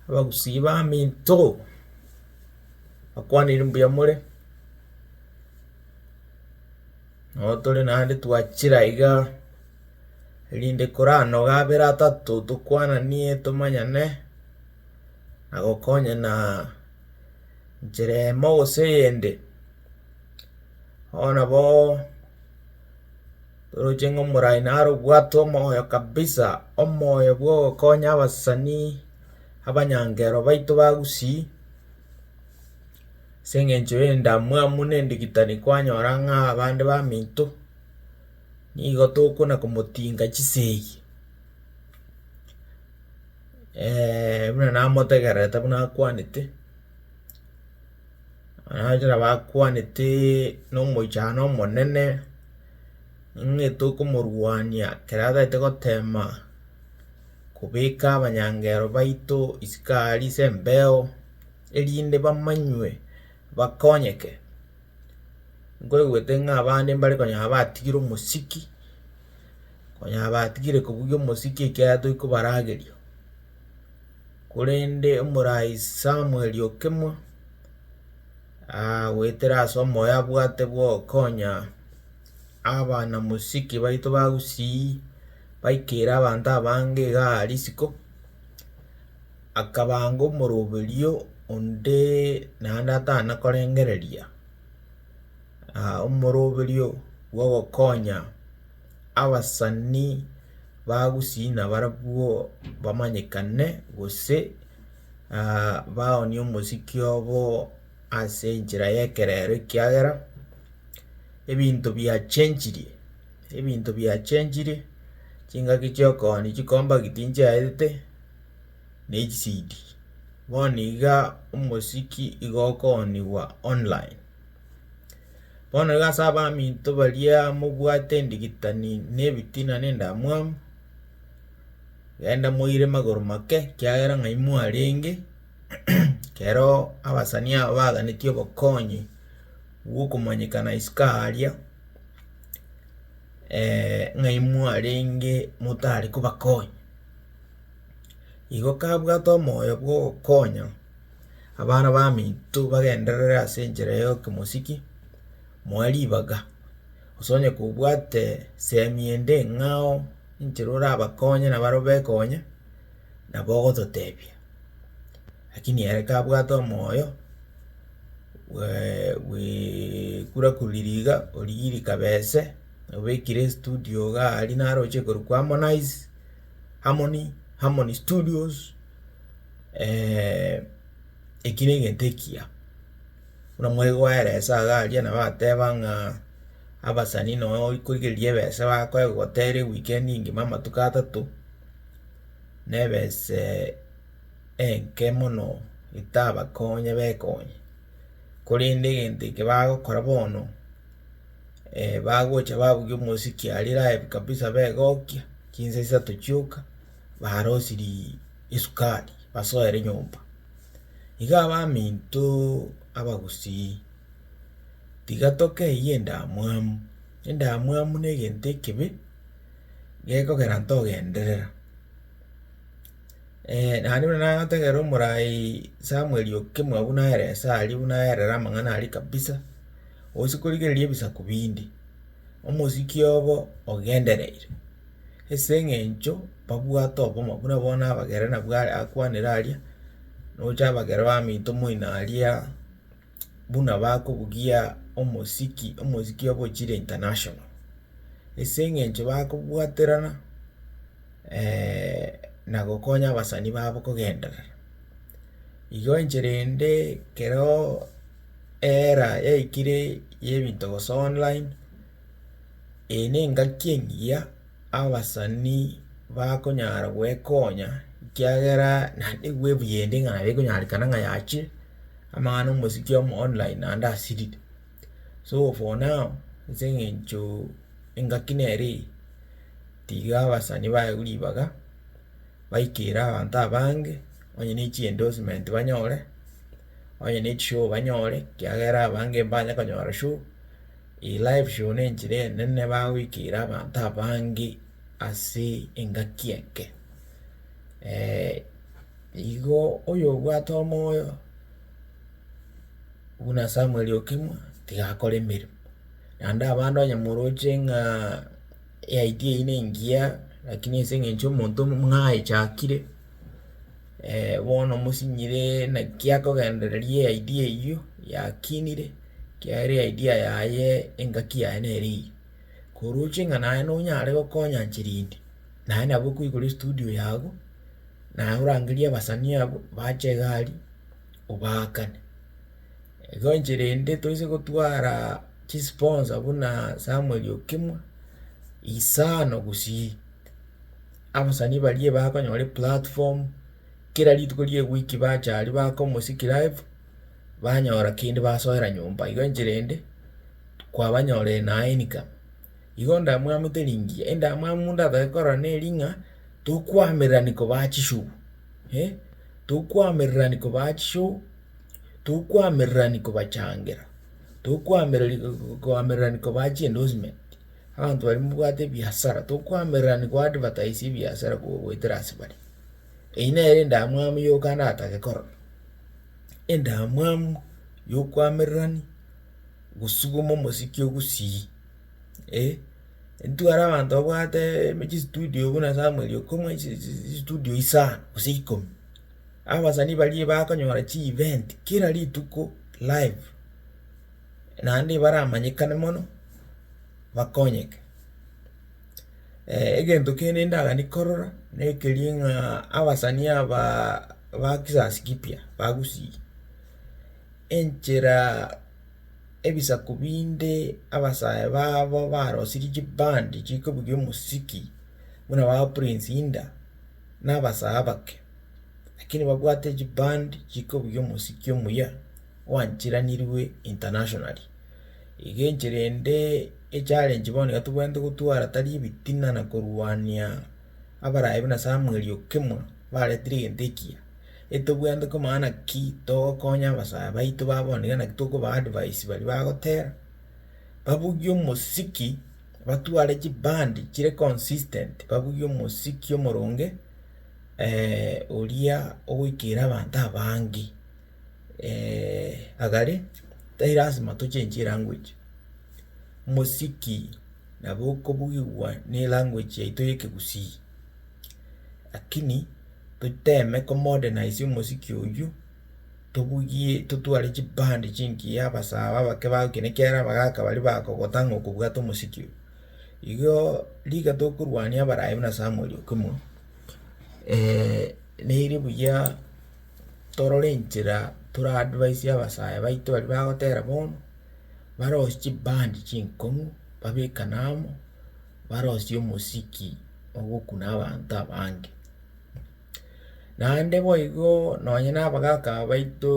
Abagusii baminto, bakwanire mbuya more, nabo tore naende twachire aiga, rinde koranoga abere atato tokwananie tomanyane, na gokonyana nchera eyemo gose eyende, bono nabo. Toroche ng'a omoraai naro obwate omoyo kabisa, omoyo bw'ogokonya abasani, abanyankero baito ba gusii, ase eng'encho y'endamwamu na endigitani kwanyora ng'a abande baminto, nigo tokona komotinga chisegi buna namotegererete buna akwanete. Ekero bakwanete nomoichano omonene, ng'a tokomorwania ekero atagete gotema kobeka abanyangero baito isiko aria ase embeo, erinde bamanywe bakonyeke, nkoigwete ng'a abande mbare konya batigire omosiki, konya batigire kobugia omosiki ekiagera toikobarageria. korende omoraai Samueli okemwa, goetera ase omoyo abwate bw'okonya abanamosike baito ba Gusii, baikere abanto abange iga risiko, akabanga omoroberio onde naende atana korengereria omoroberio bw'ogokonya. abasani bagusii nabarabwo bamanyekane, gose baonie omosiki obo ase enchera y'ekerero, ekiagera ebinto biachenchirie, ebinto biachenchirie, chingaki chio kooni chikombaki tinchiaete, na echisidi. Bono iga omosiki iga okooniwa online. Bono iga ase abaminto baria mobwate endigitani na ebitina na endamwamu, genda moire magoro make ekiagera ng'ai mwarenge, kero abasani aba baganetie obokonyi bwokomanyekana isiko aaria ng'ai mwarenge motare kobakonya. Igo kabwate omoyo bwogokonya. Abana baminto bagenderere ase enchera y'okemosiki, moe ribaga, gose onye kobwate semi ende eng'ao enchera orabakonye nabo arabwo bekonye, nabo ogototebia. Lakini ere kabwate omoyo bwaa bwekura kuriri iga, origie rikabese, obekire estudio igaa aria naroche korokwa Harmonize, Harmony, Harmony Studios. eki negento ekiya, buna mwegoera esaga aria nabo agateba ng'a abasani noe oikorigereria ebese bakoe gotera ewikendi engima amatuko atato, na ebese enke mono etabakonye bekonye. Korende egento eke bagokora bono, bagocha babugia omosiki aria live kabisa begokia chinsa isato chioka. barosirie esukari basoere nyomba. Iga abaminto abagusii, tiga tokeyie endamwamu, endamwamu na egento ekebe gekogera ntogenderera. naende buna nagotebera omorai Samuel okemwa buna aye esa aria buna aerire amang'ana aria kabisa, gose korigereria ebisaku binde, omosiki obo ogendereire. ase eng'encho babwate obomo buna bono abagere nabwo are akwanire aria, nocha abagere bamenyete omoino aria, buna bakobugia omosiki, omosiki obo ochire international. Ase eng'encho bakobwaterana na gokonya abasani babo kogenderera. Igo enchera ende kereo era yaikire ya ebinto gose online. Eye nengaki engiya abasani bakonyara gwekonya ekiagera naende bwebuyende ng'a nabo ekonyarekana ng'a yachire amang'ana omosiki omo online naende asirire. So for now ase eng'encho engaki nere eye tiga abasani bayewu ribaga baikere abanto abange onye ne chiendorsement banyore, onye ne chishow banyore ekiagera abange mbanyakonyora show. Eye live show nenchera enene bagoikeira abanto abange ase engaki enke. Igo oyobwate omoyo buna Samuel Okemwa tiga akore emeremo, naende abande onye moroche ng'a eidea eyio nengiya lakini ase eng'encho omonto mwaechakire. bono mosinyire naki akogendereria eidea eyio yakinire, ekiagera eidea yaye engaki yaye nere eyio. Koroche ng'a naye nonyare gokonya chirindi, naye nabo okoigora estudio yago, naye orangerie abasani abwo bache egari obaakane. Igo enchera ende toise gotwara chisponsa buna samuel okemwa, isano gosii. Abasani baria bakonyora eplatform, kera rituko rie ewiki bacha aria bakomosiki live, banyora kende basoera nyomba igo enchera ende kwabanyorire na income. Igo ndamwamete ringiya, endamwamu ndatake korora neri ng'a tokwamererani kobaa chishow, tokwamererani kobaa chishow, tokwamererani kobachangera, tokwamereri kwamererani kobaa chiendorsement. Abanto baria mbabwate ebiasara, tokoamererani koadvertise ebiasara goetera ase bare. Eyio nere endamwamu yoka ndatake korora, endamwamu yokoamererani gosuguma omosiki ogusii eh, ntware abanto babwate chisitudio buna samuel okomwa chitudio isano gose ikomi, abasani baria bakonyora chievent kera rituko live. naende baramanyekane mono, bakonyeke. egento kende ndagani korora, na ekeria ng'a abasani abaa ba kizazi kipya, ba gusii, enchera ebisaku binde abasae babo barosirie chibandi chikobugia omosiki buna ba Prince Indah, na abasae abake, lakini babwate chibandi chikobugia omosiki omuya. gwanchiranirwe internationally. Iga enchera ende echallenge bono iga tobwenerete gotwara tari ebitina na korwania abaraabe buna Samuel Okemwa baretire egento ekiya. Etobwenerete komanya naki togokonya abasae baito ba bono iga naki tokoba advice baria bagotera, babugie omosiki, batware chibandi chire consistent, babugie omosiki omoronge oria ogoikera abanto abange. agare, tari lasima tochenchi elanguage, mosiki nabo okobugigwa na elanguage yaito ya ekegusii, lakini toteme komodernize omosiki oyio, tobugie totware chiband chingiya abasaaba abake ba gokina ekiagera abagaka baria bagokota ng'a okobwate omosiki oyio. Igo riga tokorwania abarayi buna Samuel Okimo, nere buya. torore enchera tora advise abasaya baito baria bagotera bono, barosie chibandi chinkong'u babekane amo, barosie omosiki ogokuna abanto abange. Naende boigo nonye na abagaka aba baito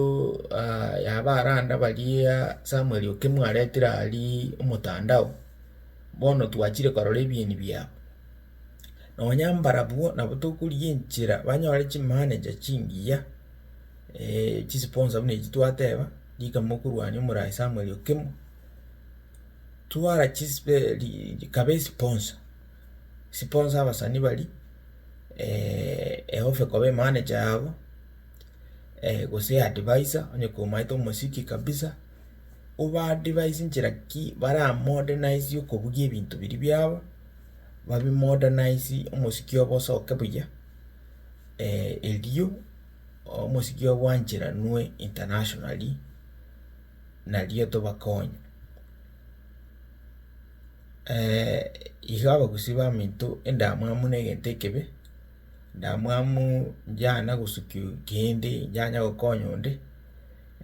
yaba arande baria Samuel Okemwa aretire aria omotandao, bono twachire korora ebieni biabo. nonya mbarabwo nabo tokorigia enchera banyore chimbaane chia chingiya, chisiponsa buna echi twateba, rika mokorwania omoraai samuel okimo, twara chispe ri rikaba esiponsa, esiponsa abasani baria, eofa ekoba emanager yabo, gose adviser, onye komaete omosike kabisa, obaadvise nchera ki baramodernise okobugia ebinto biria biabo. babi modernise omosiki obo osoke buya, erio omosiki obo bwancheranwe internationally, nario tobakonye. iga abagusii baminto endamwamu na egento ekebe. ndamwamu njana gosukia kende njanye gokonya onde,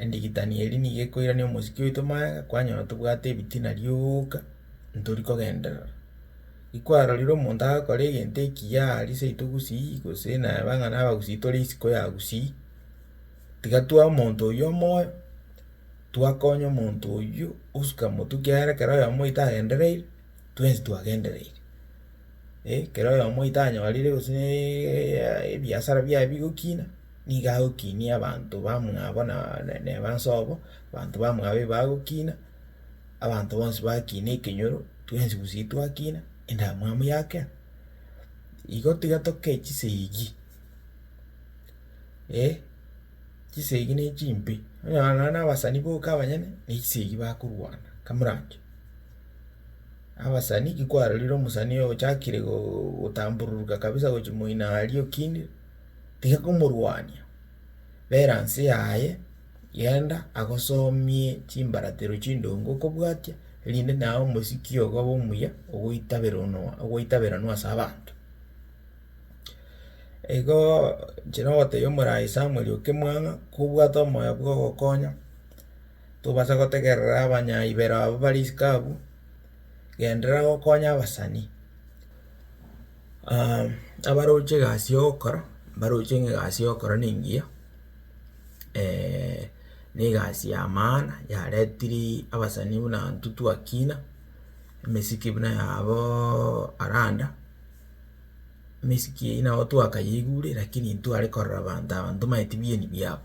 endigitani eria nigo ekoirania omosike oito magega kwanyora tobwate ebitina rioka ntori kogenderera. Ikwarorire omonto agakora egento ekiya aria seito gusii gose naye abang'ana abagusii tore isiko ya gusii, tiga twae omonto oyio omoyo, twakonye omonto oyio osuka motwe ekiagera ekero oyomo oito agendereire, twensi twagendereire. ekero oyomo otanyorire gose na ebiasara biaye bigokina, nigo agokinia abanto bamwabo na neba inse obo, abanto bamwabo iga bagokina, abanto bonsi bakina ekenyoro, twensi gusii twakina, endamwamu yakera. Igo tiga tokee chisegi, eh, chisegi ne chimbe, onyora nonye na abasani boka abanyene, ne chisegi bakorwana, kamoranche. Abasani ki kwarorire omosani oyo ochakire gotambururuka kabisa gochia moino aria okina tiga komorwania bera nse yaye genda agosomie chimbaratero chindonge okobwatia erinde naye omosiki ogo obe omuya ogoitaberanwa ase abanto. Igo inche nagotebia omorai Samuel Okemwang'a kobwate omoyo bwa ogokonya. tobasa gotegerera abanyaibero abwo bare isiko abwo, genderera gokonya abasani abaroche egasi ya ogokora, mbaroche ng'a egasi ya ogokora nengiya, na egasi ya maana yaretiri abasani buna ntutu akina, emesike buna yabooo aranda, emesike eywo nabo twakayeigure lakini ntware korora abanto aba ntomaeti bieni biabo.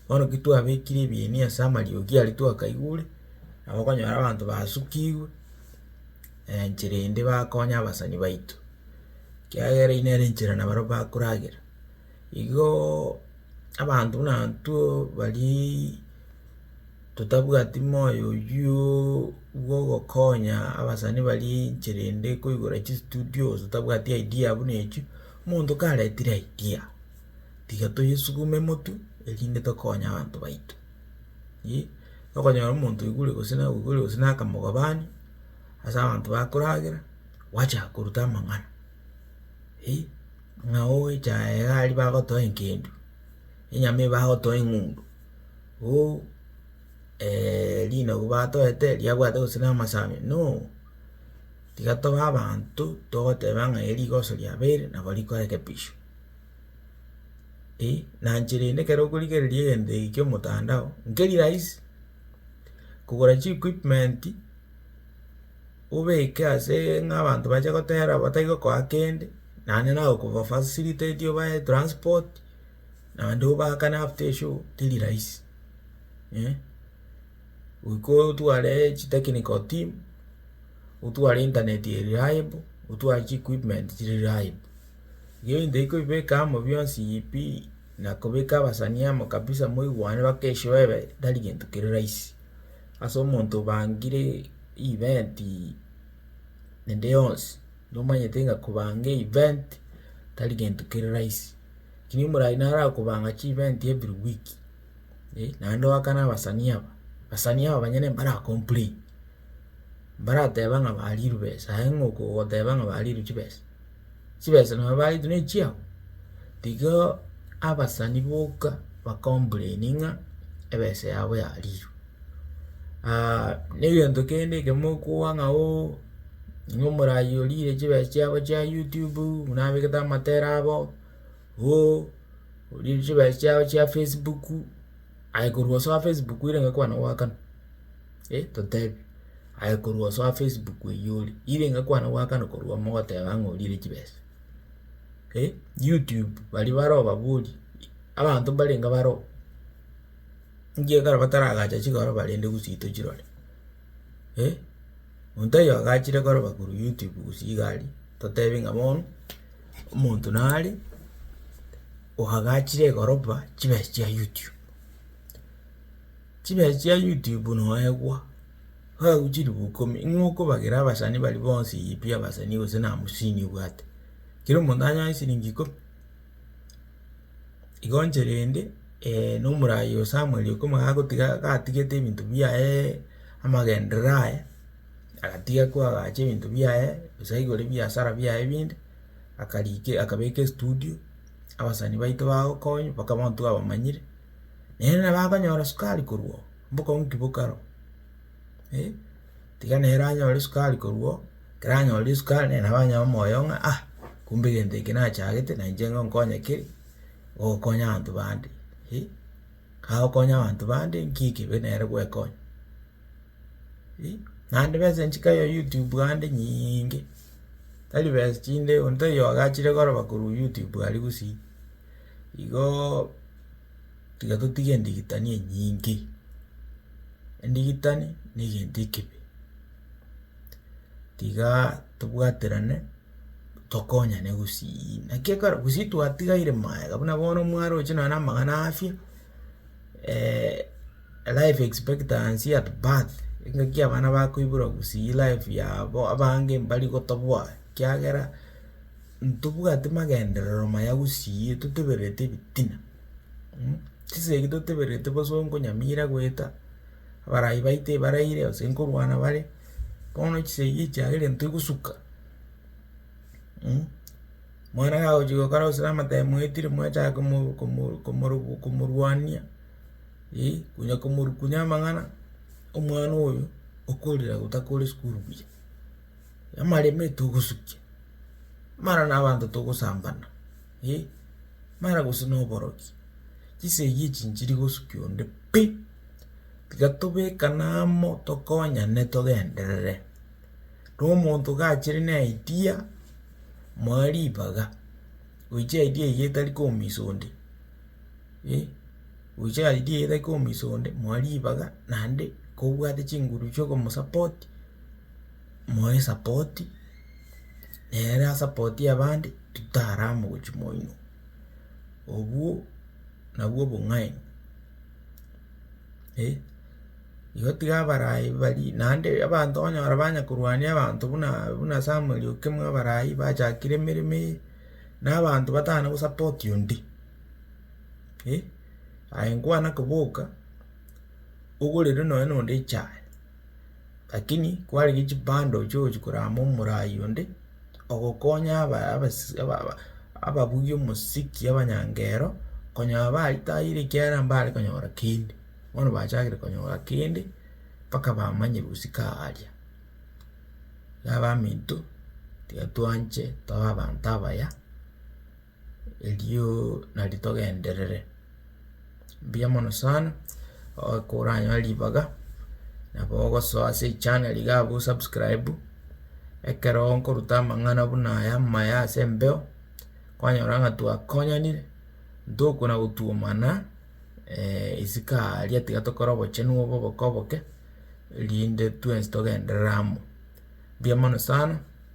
Bono ki twabekire ebieni ase amariogi aria twakaigure, nabo okonyora abanto basukigwe enchera ende bakonya abasani baito, ekiagera eyio nere enchera nabaro bakoragera. Igoooo abanto buna intwe bariiii totabwati moyo oyiooo bwa ogokonya abasani baria enchera ende koigora chistudios otabwati idea buna echio, omonto karetire idea. tiga toyesugume motu, erinde tokonye abanto baito. Iyee, okonyora omonto oigure gose naye oigure gose naye akamogobani ase abanto bakoragera, gwachaka koruta amang'ana, eh, ng'a oecha aye iga aria bagotoa engencho, enyama eye bagotoa eng'undu, oh rinagu batoete eri riabwate gose namasami, no, tiga tobe abanto togoteba ng'a eri rigoso riabeire nabo rikorekebishwa. eh, nainche rende ekero okorigereria egento eke kia omotandao, nkeri rahisi, kogora chiequipment, obeke asee ng'a abanto bache gotera batari gokoa kende, naende nagokobafacilitate obae etransport, naende obaakane after eshow, teri rahisi eh. goika otware chitechnical team, otware internet eye reliable, otware chiequipment chire reliable. Igo ebinto ebio kobibeka amo bionsi pi, na kobeka abasani amo kabisa moigwane mpaka esioebe, tari gento kere rahisi. Ase omonto obangire event ende yonsi, nomanyete ng'a kobanga event tari gento kere rahisi. Lakini omorwaria naro akobanga chievent every week. eh, naende ogakana abasanii aba, abasanii aba banyene mbara complain, mbarateba ng'a bariirwe besa, aye ng'o ogoteba ng'a bariirwe chibesa, chibesa nabo bariirwe nechiabo? Tigaaa abasani boka ba complain ng'a ebesa yabo yariirwe. na egento kende ekemo okoa ng'a ooh ng'a omorayi oriire chibesa chiabo chia youtube buna abegete amatera abo. Hoo orie chibesa chiabo chia facebook aye korwa ase facebook ere iga kwana goakana eh totebe aye korwa ase facebook eye ore ere iga kwana goakana korwa mogoteba ng'a orire chibesa eh youtube baria bare obabori abanto mbarenge bare oo ngiya ekero bataragacha chigoro bare nde gose tochirore eh. Omonto oyio agachire koroba korwa YouTube gose iga aria, totebi ng'a bono omonto nare oagachire koroba chibesa chia YouTube. Chibesa chia YouTube noegwa, babu chilifu ikomi, ing'o okobagera abasani baria bonsi pi abasani gose na hamsini obwate, kera omonto anyore silingi ikomi. Igo inche rende na omoraai o Samuel ekero agotiga gatigete ebinto biaye amagenderero aye, agatiga ko agacha ebinto biaye gose aigure ebiasara biaye binde, akarika akabeka estudio, abasani baito bagokonywa mpaka bono twabamanyire, naende nabo akonyora sukari korwa oo, mbokong'u ki bokare oo eh. Tiga nere anyore esukari korwa oo, ekero anyorire esukari nere nabo anyae omoyo ng'a ah, kumbe egento eke nachagete na inche nigo nkonye ki, gokonya abanto bande, eh, kagokonya abanto bande nki ekibe nere gwekonya, eh. Naende besa echi nkayo youtube ande nyinge, tari besa chinde onde tari oyogachire koroba korwa youtube aria gosii, igoo. tiga totige endigitani enyinge, endigitani na egento ekebe, tigaaa tobwaterane tokonyane gosiii naki ekero gosii twatigaire magega buna bono mwaroche nonye na amang'ana a afya life expectancy at birth engaki abana bakoiborwa gosii life yabo abange mbari gotobwati ekiagera. ntobwate magenderero maya gusii totebererete ebitina mh, chisegi totebererete boso nkonyamira goeta, abarai baito ebaraire gose nkorwana bare, bono chisegi echiagera intwe gosuka mh, mwana kagochia gokora gose namatemi mwaetire mwachaka komo komo komorogo komorwania eh, onya komorukunia amang'ana, omwana oyo okorire otakore sukuru buya. Namaremete ogosukia, mara nabanto togosambana eh, mara gose na oborokia, chisegi echi nchiri gosukia onde pi, tiga tobekane amo tokonyane togenderere, na omonto gachire na idea moe ribaga, goicha idea eywo etari komisa onde eh, goicha idea eywo etari komisa onde moe ribaga naende kobwate chinguru chiokomosupport. moe esapoti, nere asapoti abande, totare amo gochia moino. Obwo nabwo obong'aini, eh, igo tiga abarai bari naende abanto okonyora banya korwania abanto buna buna samuel okemwa abarai bachakire emeremo eye, na abanto batana gosapoti onde, eh, aye nkwana koboka, ogorerwe nonye na onde echae. Lakini kwarenge chipando chiogochia korama omorai onde, ogokonya aba- abasi aba- aba ababugi omosiki abanyangero, konya baritaire ekiagera mbare konyora kende, bono bachagire konyora kende, mpaka bamanye gosika aaria. Iga abaminto, tiga twanche tobe abanto abaya. Erio nari togenderere, mbuya mono sana, ekero oranyore ribaga, nabo ogosoa ase echaneri iga abwo osubscribe, ekero nkoruta amang'ana buna aya amaya ase embeo, kwanyora ng'a twakonyanire, ntokwa na gotwomana isiko aria tiga tokore obochenu obo oboke oboke, erinde twensi togenderere amo. Mbuya mono sana.